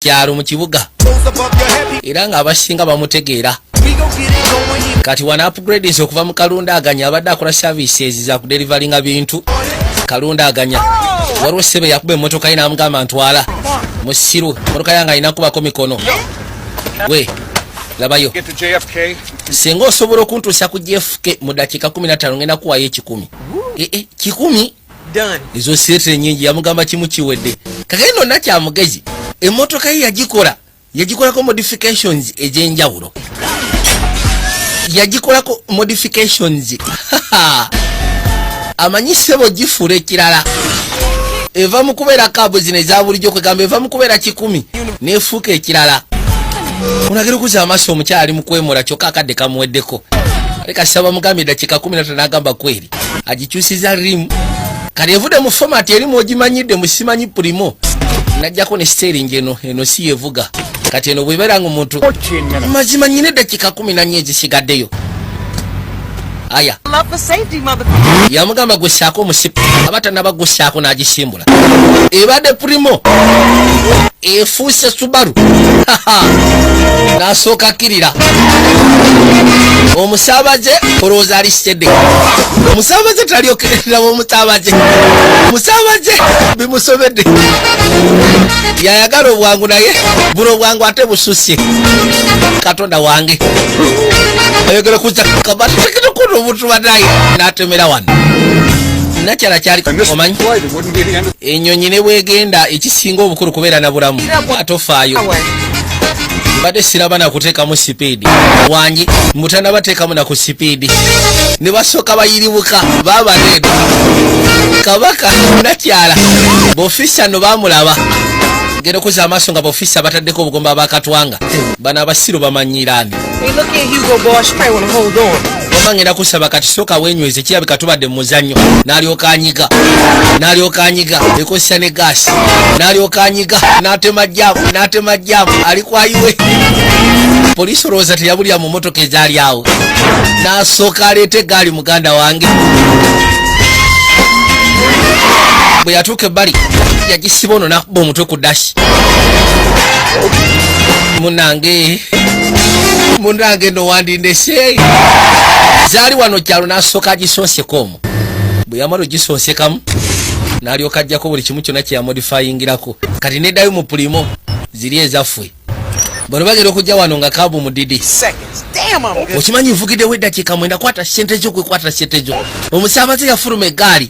kyalo mu kibuga era ng'abasinga bamutegeera kati wana upgrades okuva mu kalunda aganya abadde akola services za kuderivalinga bintu kalunda aganya waliwo ssebe yakuba emmotoka ye n'amugamba ntwala musiru emmotoka yange alina kubako mikono we labayo singa osobola okuntuusa ku jfk mu dakiika 15 ngenda kuwayo ekikumi eh, eh, kikumi ezo sirete nyingi yamugamba kimu kiwedde kakati nonna kyamugezi emotoka ye yagikola yagikolako modifications ezenjawulo yagikolako modifications amanyi sebo gifuula ekirala eva mu kubeera kaabu zino eza bulijjo kwegamba eva mu kubeera kikumi nefuuka ekirala olagira okuza amaaso omukyala ali mu kwemula kyokka akadde kamuweddeko ale kasaba mugambye dakiika kumi natano agamba kweri agikyusiza rimu kati evude mu fomati erimu ogimanyidde musimanyi primo najjako ne siteringi eno eno si yevuga kati eno bwebeera nga omuntu mazima nyina eddakika kumi nanyo ezisigaddeyo aya yamugamba gwesaako omusipu aba tanaba gwesaako n'agisimbu ebadde primo efuuse subaru nasooka kirira omusaabaze olowooza ali sitede omusaabaze talyokerera omusaabaze omusaabaze bimusobedde yayagala obwangu naye buno obwangu ate bususie katonda wange ayogera kuza kabatekete kuno omuntu banaye natemera wano nakyala kyali omanyi enyonyi ne bwegenda ekisinga obukulu kubeera na bulamu atofaayo mbadde siraba nakuteekamu sipiidi wangi mutana bateekamu naku sipiidi ne basooka bayiribuka babareeda kabaka nakyala bofisa no bamulaba genda okuza amaaso nga bofisa bataddeko obugomba bakatwanga bano abasiru bamanyiraani ngenda kusaba kati sooka wenyweze kirabika tubadde mu muzannyo n'alyoka anyiga n'alyoka anyiga ekozesa ne gaasi n'alyoka anyiga n'atema jaamu n'atema jaamu ali kwayiwe poliisi olowooza teyabulira mu motoka ezaali awo n'asooka aleeta egaali muganda wange bwe yatuuka ebbali yagisiba ono nakuba omutwe ku dashi munange munange no wandindese zaali wano kyalo nasooka agisonseka omu bwe yamala ogisonsekamu nalyoka ajjako buli kimu kyonna kyeyamodifayingirako kati nedayo mu pulimo ziri ezaffwe bano bagenda okujja wano nga kabu mudidi okimanyi nvugidewo eddakiika mwenda kwata sente zo kwekwata sente zo omusaabaze yafuluma egaali